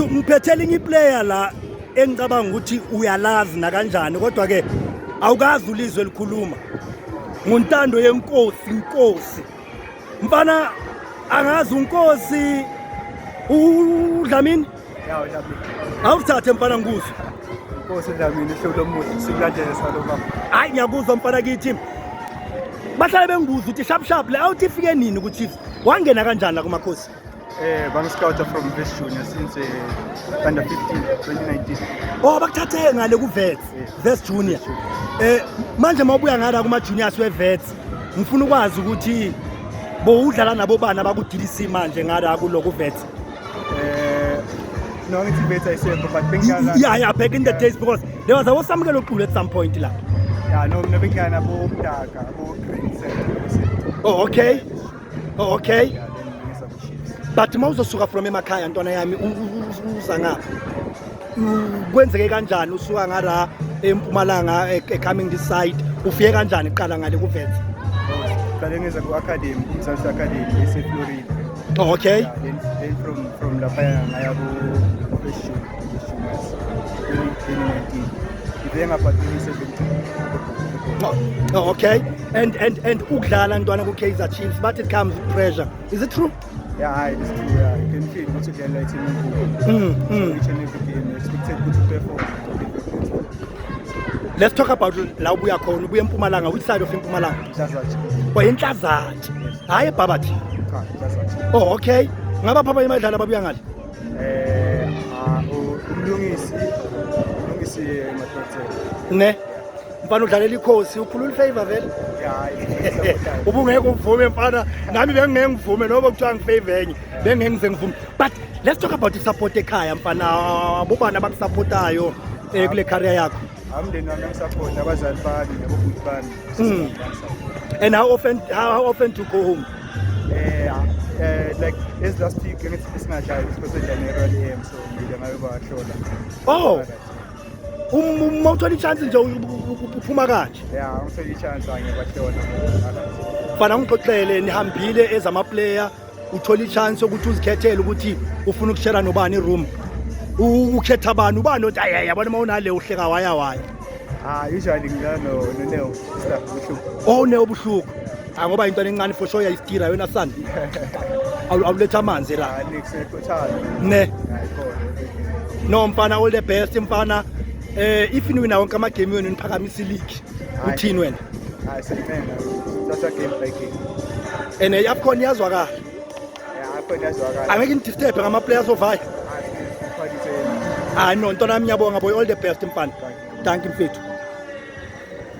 Ngiphethela inye iplayer la engicabanga ukuthi uyalazi nakanjani kodwa ke awukazi ulizwe elikhuluma nguntando yenkosi inkosi mfana angazi unkosi udlamini awuthathe mfana ngikuzwe inkosi udlamini ihlolo omuhle sikulandele salo baba hayi ngiyakuzwa mfana kithi bahlale bengibuza ukuthi sharp sharp le awuthi ifike nini ku-chiefs wangena kanjani la kumakhosi Eh, bang scouter from Vets Junior since uh, under 15 2019. Oh, bakuthathe ngale ku Vets, Vets Junior. Eh, manje mawubuya ngala kuma juniors we Vets, ngifuna ukwazi ukuthi bowudlala nabo bana bakudilisi manje ngala ku loku Vets. Eh, no ngithi Vets ayisekho but bengiyala. Yeah, yeah, back in the days because there was a wasamukelo qulu at some point la. Yeah, no, mina bengiyana bo Mdaka, bo Green Center. Oh, okay. Oh, okay. Yeah, but mawuzosuka from emakhaya ntwana yami uza ngapha kwenzeke kanjani usuka ngara empumalanga e, e coming this side ufike kanjani kuqala ngale kuvethe qale ngeza ku academy kumzansi academy ese Florida oh, okay yeah, then, then from from lapha ngaya ku Oh, okay. And and and ukudlala ntwana ku Kaizer Chiefs but it comes with pressure. Is it true? Yeah, hi, it's true. Yeah, you can feel what you get like in mm, mm. each and every game. Expected good to perform. Let's talk about la ubuya khona ubuya eMpumalanga which side of eMpumalanga? Mhlazatshe. Kwa eNhlazatshe. Hayi eBhabathi. Cha, Mhlazatshe. Oh, okay. Ngaba phaba imadlala babuya ngale? ne mfana udlalela ikhosi ukhulula ifavor vele ubungeke uvume mfana nami bengingeke ngivume noba kuthiwa ngifavor enye bengingeke ngize ngivume but let's talk about isupport ekhaya mfana bobani abakusappotayo eh, kule career yakho amndeni wami angisaphothi abazali bami nabobhuti bami hmm. and how often, how often to go home Yeah, uh, like this last week against Ismail, it's because of January game, so we don't know about shoulder. Oh! uma uthola i-chance nje uphuma kanje ya ngithole i-chance angibahlona fana ngixoxele nihambile ezamaplayer uthola i-chance yokuthi uzikhethele ukuthi ufuna ukushera nobani i-room ukhetha bani ubani othi ayi yabona uma unale uhleka waya waya ah usually ngidlala no no neo staff buhluku oh neo buhluku Cha ngoba into encane for sure yayistira yona son. Awu- Awuletha amanzi la. Hayi nix ekhothana. Ne. Hayi khona. No mfana all the best mfana. Eh if niwina wonke ama game wenu niphakamisa league. Hayi. Uthini wena? Hayi seyimena. Thatha game by game. And eh, iAfcon yazwakala. Yeah, akho ngiyazwakala. Angeke ngidisturb ngama players ovaya. Hayi, khona itheni. Hayi no ntona yami ngiyabonga boy all the best mfana. Thank you mfethu.